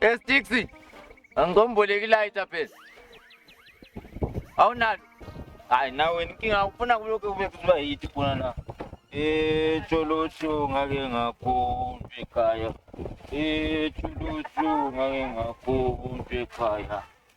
Estixi. Angomboleki lighter phela. Awunalo. Hayi nawe inkinga ufuna kulokho kube kuba yithi khona la. Eh Jolotho ngake ngakhonjwa ekhaya. Eh Jolotho ngake ngakhonjwa ekhaya.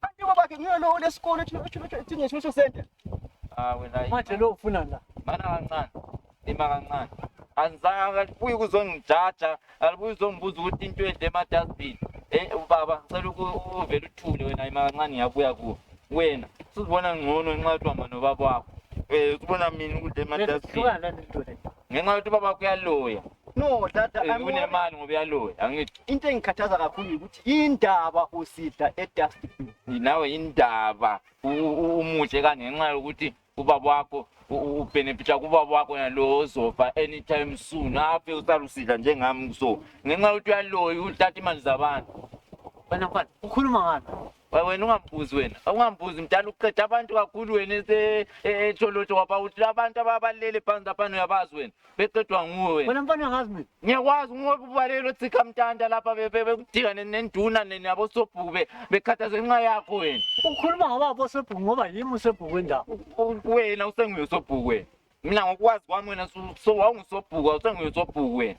Kanti baba ke ngiyona ole sikole thina thina thina social center. Ah wena. Manje lo ufuna la. Mana kancane. Lima kancane. Anizange alibuye kuzongijaja, alibuye uzongibuza ukuthi into edle ema dustbin. Eh ubaba ngicela ukuvela uthule wena ima kancane ngiyabuya kuwe. Wena usuzibona ngcono ngenxa yokuhamba nobaba wakho. Eh ubona mina ukudla ema dustbin. Hlukana nento le. ngenxa yokuthi ubaba kuyaluya no dada I'm worried. unemali ngoba uyaluya angithi into engikhathaza kakhulu ukuthi indaba usidla edustbin nawe indaba u- u- umuhle kanje ngenxa yokuthi ubaba wakho u- u- ubhenefitha kubaba wakho nalo ozofa anytime soon afe usalusidla njengami so ngenxa yokuthi uyaloyi uthatha imali zabantu Wena mfana ukhuluma ngani? Wa- wena ungambuzi wena ungambuzi mdala uqeda abantu kakhulu wena ese- e- etholotsho waba uthi abantu ababalele phansi laphana uyabazi wena beqedwa nguwe wena wena mfana angazi mina ngiyakwazi ngoba ubalelo othikha mtanda lapha be- be- bekudika ne- nenduna ne- nabosobhuku be- bekhathaze ngenxa yakho wena ukhuluma ngobaba osebhuku ngoba yimi usebhuku wendawo U- u- wena usenguye usobhuku wena mina ngokwazi kwami wena su- so- wawungusobhuku awusenguye usobhuku wena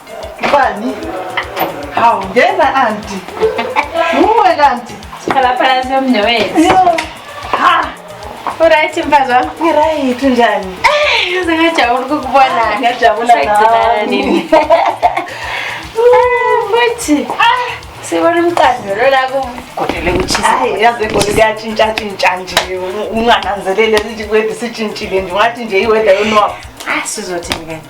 Bani? Hawu ngena anti. Uwe kanti. Sikhala phansi yomnewethu. Yo. Ha. Uright mfazi wami? Ngiright njani? Eh, uze ngajabula ukukubona. Ngajabula nawe. Sayigcinana nini? Ah, Futhi. Ah. Sibona umqando lo la kugodele kuchisa. Hayi yazi egoli kuyatshintsha tshintsha nje ungananzelele sithi kwethu sitshintshile nje ungathi nje iweather yonwabo. Ah sizothini kanti?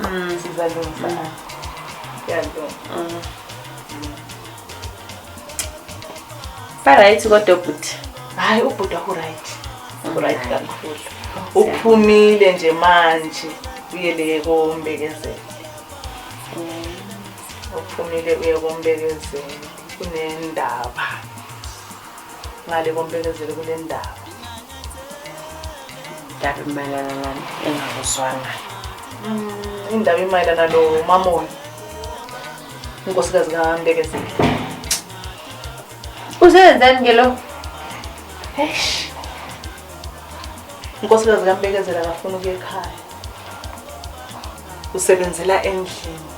Mm, sizalungisa. Mm. Yalunga. Mm. Baright kodwa ubhuti. Hayi ubhuti waku right. Waku right kakhulu. Uphumile nje manje uyele kombekezela. Uphumile uye kombekezela kunendaba. ngale kombekezelo kule ndaba indaba imayelana nani engakuzwanga mm, indaba imayelana lo mamoni unkosikazi kambekezeli usebenzani ke lo eish unkosikazi kambekezela akafuna ukuya ekhaya usebenzela endlini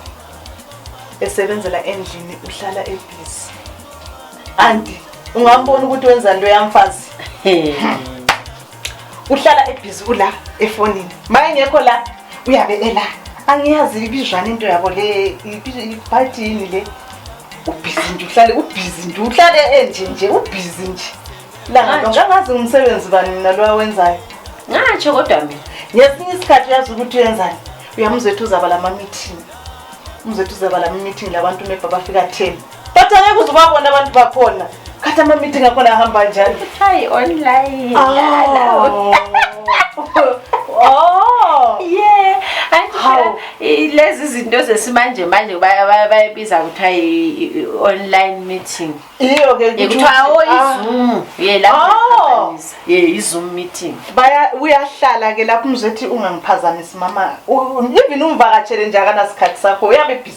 esebenzela endlini uhlala ebhizi Anti, ungambona ukuthi wenza into yamfazi. Uhlala ebhizi ula efonini. Maye ngekho la uyabe ela. Angiyazi ibizwana into yabo le ibhathini le. Ubhizi nje uhlale ubhizi nje uhlale enje nje ubhizi nje. La ngangazi umsebenzi bani mina lo wenzayo. Ngatsho kodwa mina. Ngesinye isikhathi uyazi ukuthi uyenzani. Uyamuzwethu uzaba lama meeting. Umzwethu uzaba lama meeting labantu mebaba fika 10. But angeke uze ubabone abantu bakhona. Khathi ama-meeting akhona ahamba njani? Hayi online. Oh. Oh. Yeah. Hawu. Anti lezi zinto zesimanje manje baya- baya- bayibiza kuthiwa i- i- i- online meeting. Iyo ke ukuthi Kuthiwa oh ah, iZoom. Yeah la. Oh. Yeah iZoom meeting. baya uyahlala ke lapho umzethi ungangiphazamisi mama U- even umvakatshele nje akanasikhathi sakho uyabe busy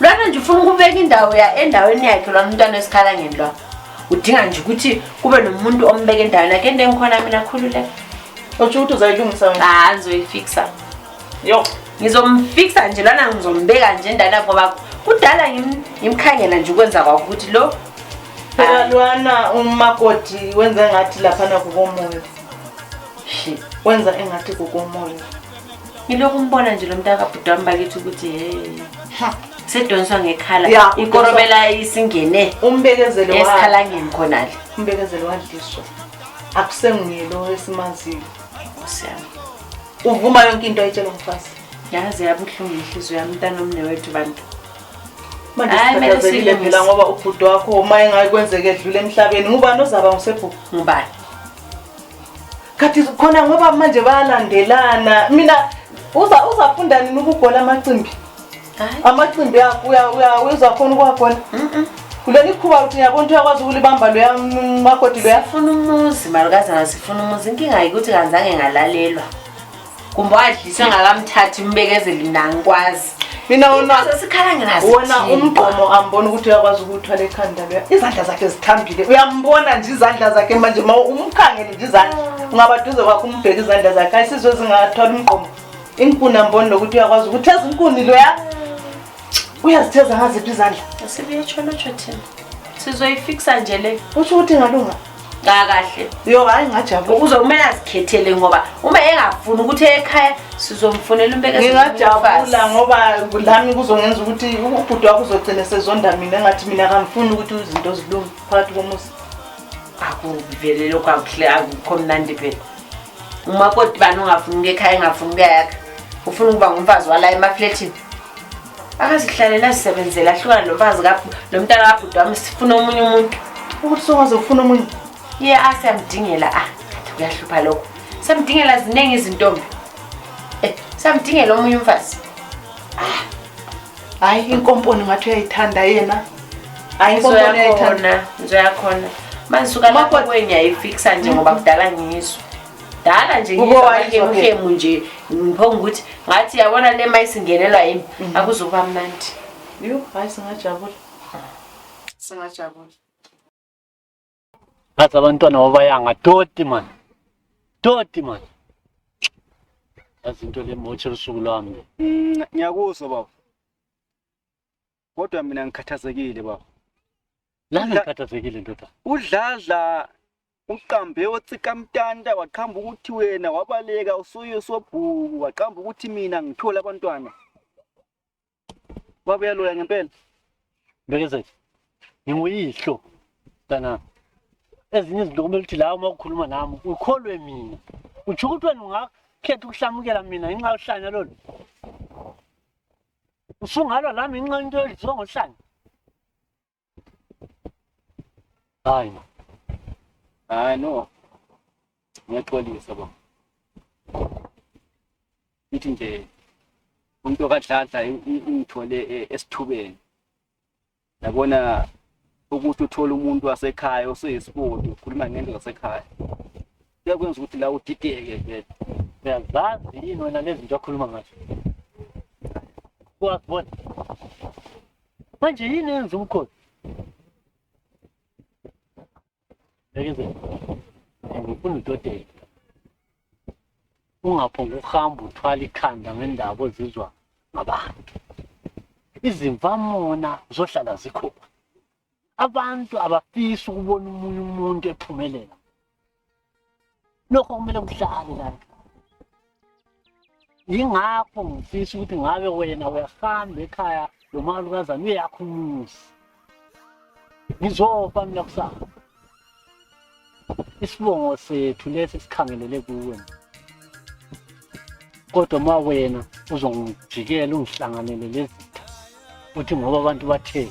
lwana nje ufuna ukubeka indawo ya endaweni yakhe lwana umntwana wesikhala ngeni lwa udinga nje ukuthi kube nomuntu ombeka endaweni yakhe into engikhona mina khululeka otsho ukuthi uzayilungisa wena ha ngizoyifixa yo ngizomfixa nje lwana ngizombeka nje endana ngoba kudala ngimkhangela nje ukwenza kwakho ukuthi lo phela lwana umakoti wenza engathi laphana kukomoya wenza engathi kukomoya ngilokhu umbona nje lo mntaka bhuti wami bakithi ukuthi he sedonswa ngekhala ikorobela isingene umbekezelo esikhalangeni khonale umbekezelo wadliswa akusenguye lo esimaziyo siyami uvuma yonke into ayitshela umfazi yazi yabuhlungu inhliziyo yami mntana omne wethu bantu mandisikhathazekile phela ngoba ubhuti wakho uma engakwenzeka edlule emhlabeni ngubani ozaba ngusebhuku ngubani Khathi khona ngoba manje bayalandelana. Mina uza uzafunda nini ukubhola amacimbi? Amacimbi uya uya uzakhona ukuwabhola? Mhm. kuleli khuba ukuthi ngiyabona ukuthi uyakwazi ukulibamba loya makoti loya sifuna umuzi malukazana sifuna umuzi inkinga yikuthi kanzange ngalalelwa kumbe wadliswe ngakamthathi umbekezeli mina angikwazi mina wona umgqomo ambona ukuthi uyakwazi ukuthwala ekhanda leyo izandla zakhe zithambile uyambona nje izandla zakhe manje ma umkhangele nje izandla ah. ungabaduze kwakho umbheke izandla zakhe ayisizwe zingathwala umgqomo inkuni amboni lokuthi uyakwazi ukuthi ezinkuni loya ah. uyazitheza ngaziphi izandla sizoyifikisa nje le usho ukuthi ngalunga kakahle uyokayi ngajabula uzomele azikhethele ngoba uma engafuni ukuthi ekhaya sizomfunela umbekengingajabula ngoba lami kuzongenza ukuthi ubhuti wakho uzogcina sezonda mina engathi mina kangifuni ukuthi izinto zilunge phakathi komuzi akuvele lokho akuhle akukho mnandi vele umakoti bani ungafuni ukuya ekhaya engafuni ukuyayakha ufuna ukuba ngumfazi wala emafletini akazihlalela zisebenzela ahlukana nomfazi nomntana kabhuti wami sifuna omunye umuntu ukuthi sokwazi ukufuna omunye ye a siyamdingela a ah, kuyahlupha lokho samdingela ziningi izintombi eh, samdingela omunye umfazi ah, hayi inkomponi ngathi uyayithanda yena hayi inkomponi uyayithanda ngizoyakhona manje suka lapho kwenye ayifikisa nje ngoba kudala ngizwe dala nje ngizwakemuhemu nje ngiphonga ukuthi ngathi yabona le ma isingenelwa yimi mhm. akuzoba mnandi yo hayi singajabula singajabula ngathi abantwana babayanga toti mani toti mani yazi into le motshe lusuku lwami mm, ngiyakuzwa baba Kodwa mina ngikhathazekile baba. Lana ngikhathazekile ndoda. Udladla uqambe otsika mtanda waqhamba ukuthi wena wabaleka usuyo sobhuku waqhamba ukuthi mina ngithole abantwana. Baba uyaloya ngempela. Mbekezeli. Nginguyihlo kana ezinye izinto kumele ukuthi la uma ukhuluma nami ukholwe mina. Uthi ukuthi wena ungakhetha ukuhlamukela mina ngenxa yohlanya lolu. usungalwa la ngenxa into edliwa ngohlanya hayi no hayi no ngiyaxolisa bo ithi nje umuntu okadladla ingithole e, esithubeni yabona ukuthi uthole umuntu wasekhaya oseyisibodi ukhuluma ngento zasekhaya kuyakwenza ukuthi la udideke vele uyazazi yini wena lezi zinto akhuluma ngazo kwakubona manje yini yenza umkhosi Bekeze. Ngifuna udodela. Ungaphonga ukuhamba uthwala ikhanda ngendaba ozizwa ngabantu. Izimvamona zohlala zikhona. Abantu abafisi ukubona umunye umuntu ephumelela. lokho kumele kuhlale lana yingakho ngifisa ukuthi ngabe wena uyahamba ekhaya lomalukazana uyakho umuzi ngizofa mina kusasa isibongo sethu lesi sikhangelele kuwe kodwa uma wena uzongijikela ungihlanganele lezitha uthi ngoba abantu bathe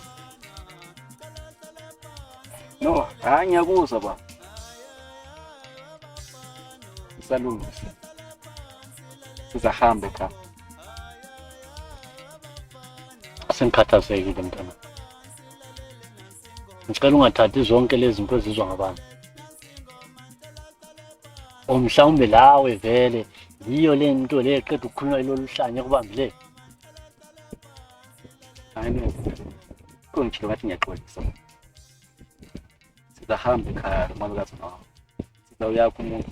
no hayi ngiyakuzwa baba isalungisa sizahamba ekhaya sengikhathazekile mntana ngicela ungathathi zonke lezi zinto ezizwa ngabantu or mhlawumbe lawe vele yiyo le nto le eqeda ukukhuluma lolu hlanya kubambile hayi no kungitshilo ngathi ngiyaxolisa sizahamba ekhaya malikazi nawo sizawuyakho umuntu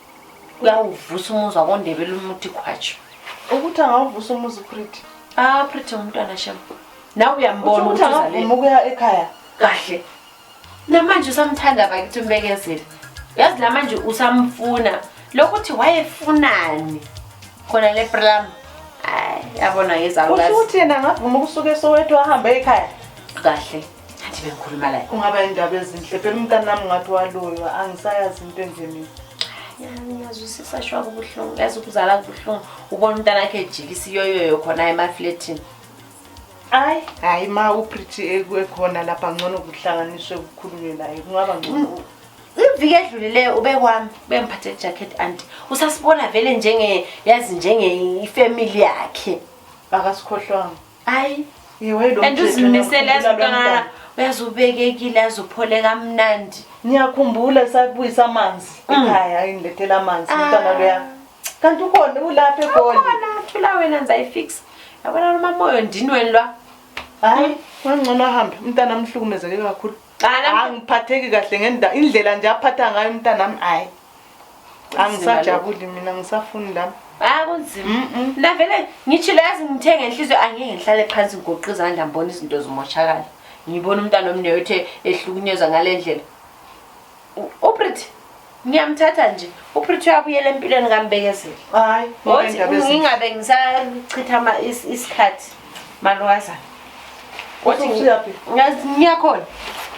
uyawuvusa umuzi wakondebela umuthi khwatshu ukuthi angawuvusa umuzi upriti ah priti umntwana shem nawe uyambona ukuthi angavuma ukuya ekhaya kahle namanje usamthanda bakithi umbekezeli yazi namanje usamfuna lokuthi wayefunani khona le plam yabona yezauthi yena angavuma ukusuka esowethu ahambe ekhaya kahle Ngathi bengikhuluma la. Kungaba indaba ezinhle. Phela umntana nami ngathi waloywa, angisayazi into enje mina. Ngiyazwisisa shwa kubuhlungu. Yazi ukuzala kubuhlungu. Ubona umntana wakhe ejikisa iyoyoyo khona emafletini. Hayi, hayi ma uPretty ekhona lapha ngcono kuhlanganiswe kukhulunywe naye. Kungaba ngcono. Mm, iviki edlulileyo ube kwami bengiphathe ijacket anti usasibona vele njenge yazi njenge ifamily yakhe akasikhohlwanga Hayi. Iwe lo. And uzimisele azibona uyazubekekile azophole kamnandi. Ngiyakhumbula sakubuyisa amanzi mm. ekhaya ayindlethela amanzi ah. umntana loya. Kanti ukhona ulapha egoli. Ukhona thula wena ngizayifixa. Yabona noma moyo ndinweni lwa. Hayi, hmm. wangcono ahambe umntana amhlukumezeke kakhulu. Angiphatheki kahle ngendaba indlela nje aphatha ngayo umntana nami hayi. angisajabuli mina ngisafuni lami hayi kunzima ndavele ngithi lazi ngithenge inhliziyo angeke ngihlale phansi ngigoqe izandla ngibona izinto zimoshakala ngibona umntana omne othe ehlukunyezwa ngale ndlela uprit ngiyamthatha nje uprit uyabuyela empilweni kambekezela hayi ngingabe ngisachitha isikhathi Malwaza. Wathi usuyaphi? Ngazi ngiyakhona.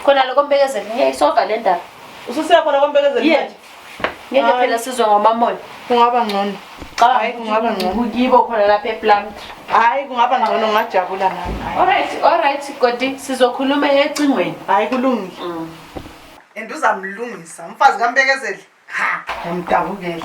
Khona lokho mbekezela ngiyayisova le ndaba. Ususiya khona kombekezela Yeah. manje. Ngeke Hayi. phela sizwe ngomamona. Kungaba ngcono. Cha Hayi, kungaba ngcono. kuyibo khona lapha ePlumtree. Hayi kungaba ngcono ngajabula nami. Hayi. Alright, alright Godi sizokhuluma ecingweni. Hayi kulungile. and uzamlungisa umfazi kambekezeli ha yamdabukela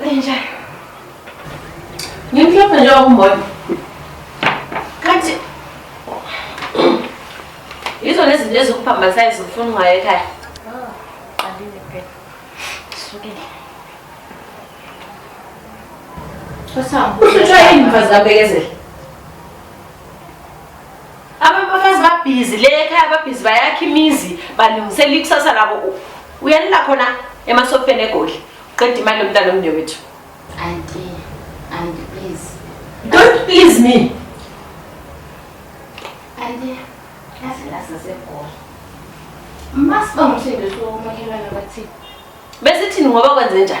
Lenja. Ngimhlophe nje okumbona. Kanti Yizo lezi zinto ezikuphambanisayo zifuna ungayo ekhaya. Oh, qandile phela. Sukile. Sasam. Usuthwa yini mfazi kaBekezela? Abafazi babhizi le ekhaya babhizi bayakha imizi balungisela ikusasa labo. U- Uyanila khona emasofeni egoli. Qeda imali yomntana omnewethu. Auntie, auntie please. Don't please me. Auntie, yazi la sasegoli. Masiba ngumsebenzi wokumakhelwane bathini. Bese thini ngoba kwenze njani?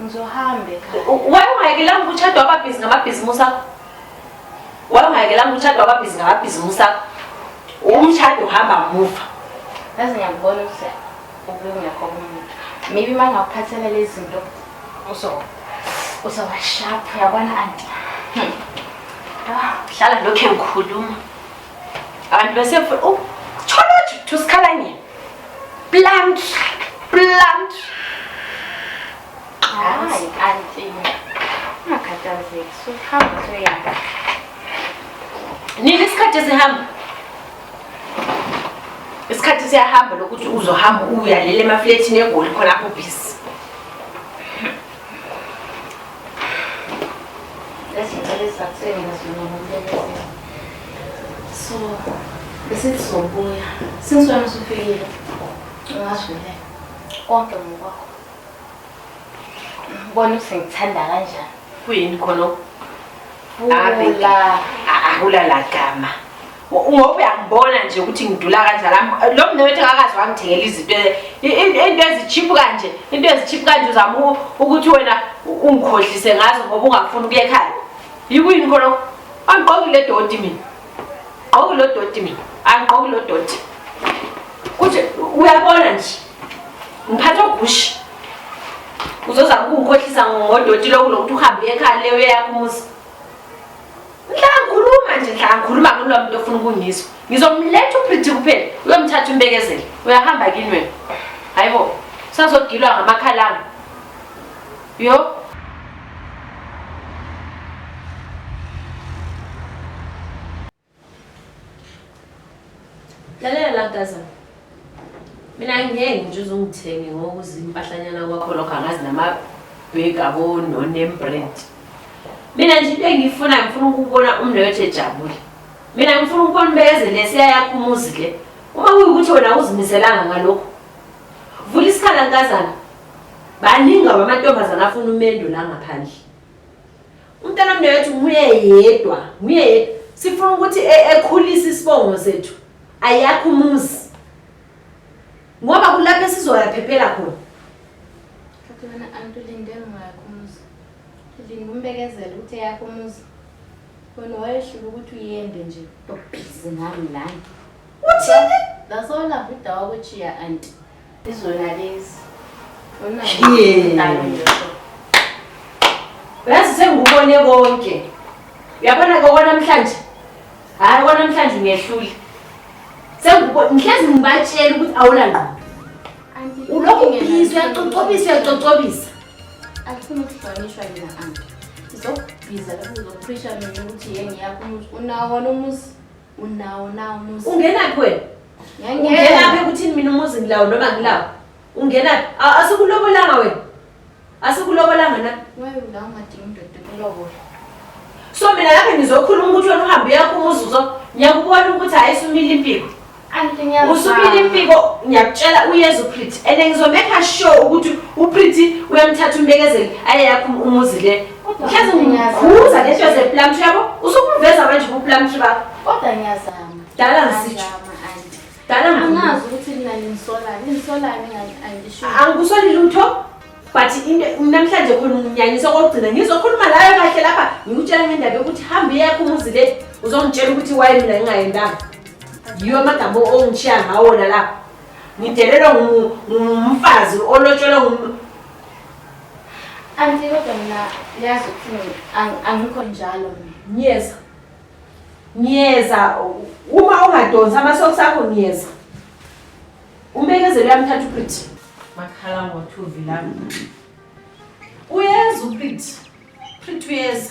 Ngizohamba ekhaya. Why ungayekelanga ukuchadwa ababhizi ngamabhizimusi akho? Why ungayekelanga ukuchadwa ababhizi ngamabhizimusi akho? Umshado uhamba muva. Ngaze ngiyakubona ukuthi ubungekho kumuntu. Maybe uma ngakuphathela lezi zinto uso usawashap uyabona anti. Hmm. Ah, hlala lokhe ngikhuluma. Abantu bese oh, thola ukuthi usikhala nini? Plant. Plant. Hayi kanti. Ungakhathazeki. Suhamba soyaka. Nini isikhathi sihamba? Isikhathi siyahamba lokuthi uzohamba uyalela emafletini egoli khona apho busy. So, bese sizobuya. Since wena usufikile, ungasho le konke ngokwakho. Ngibona ukuthi ngithanda kanjani. Kuyini khona? Vula. Ahula la gama. ngoba uyangibona nje ukuthi ngidula kanjani lo mnewethu akakazi wangithengela izinto into ezichiphu kanje into ezichiphu kanje uzama ukuthi wena ungikhohlise ngazo ngoba ungafuni ukuya ekhaya yikuyini khona angigqoki le doti mina gqoki lo doti mina angigqoki lo doti kuthi uyabona nje ngiphatha ogushi uzozama ukungikhohlisa ngodoti lokulokuthi uhambe ekhaya leyo eyakho umuzi Ngiyakhuluma nje ngiyakhuluma kulo muntu ofuna ukungizwa. Ngizomletha uPretty kuphela uyomthatha umbekezele. Uyahamba kini wena. Hayibo. Sazogilwa ngamakhalanga. Yo. lalela la gazana mina ngeke nje uzungithenge ngokuza impahlanyana kwakho lokho angazi namabheki abononembrendi mina nje into engiyifuna ngifuna ukubona umnewethu ejabule mina ngifuna ukubona ubeyeze lesiya yakho umuzi le uma kuyukuthi wena uzimiselanga ngalokhu vula isikhala nkazana baningi abo amantombazana afuna umendo la ngaphandle Umntana mnewethu nguye yedwa, nguye yedwa. Sifuna ukuthi e- ekhulise isibongo sethu. Ayakho umuzi. Ngoba kulapho esizoyaphephela khona. Kati wena anti ulinde ngingakho umuzi linde umbekezela ukuthi eyakho umuzi wena wayehlula ukuthi uyende nje ubhizi ngami lana Uthini? that's all avudawa kuchiya anti Izona lezi. Uyazi sengikubone konke. Uyabona ke kwanamhlanje. Hayi kwanamhlanje ngehlule. Sengikubone ngihlezi ngibatshela ukuthi awula ngqondo. Ulokhu ubhizi uyacocobisa uyacocobisa. Akufuni ukuhlonishwa yena anti. Izokubhiza lokhu uzophrisha mina ukuthi yengiyakho umuzi unawo wona umuzi. Unawo na umuzi. Ungenaphi wena? Ungenaphi ukuthini mina umuzi ngilawo noma ngilawo? Ungenaphi? Asikulobolanga wena. Asikulobolanga na? Wewe la ungadinga indoda kulobola. So mina lapha ngizokhuluma ukuthi wena uhambe yakho umuzi uzo ngiyakubona ukuthi hayi sumile impiko. usukile impiko ngiyakutshela uyeza uprity and ngizomekha sure ukuthi uprity uyamthatha umbekezeli aye yakho umuzi le Kodwa Yazi ngiyazama. ngikhuza ngento zeplum tree yabo usukuveza manje kuplum tree bakho Kodwa ngiyazama. Dala ngisitsho. Ngiyazama, auntie. dala ngikhuza. Angazi ukuthi mina nginisolani. Nginisolani ngi- angisho. angikusoli lutho but into namhlanje khona unginyanyisa okokugcina ngizokhuluma layo kahle lapha ngikutshela ngendaba yokuthi hambe yakho umuzi le uzongitshela ukuthi waye mina ngingayendanga yiwo amagama ongishiya ngawona lapha ngidelelwa ngu- ngumfazi olotshelwa ngum- Anti kodwa mina yazi ukuthi angikho njalo mina. Ngiyeza. Ngiyeza uma ungadonsi amasocks akho ngiyeza. Umbekezelo uyamthatha uPretty. Makhala ngothuvi lami. Uyeza uPretty. Pretty uyeza.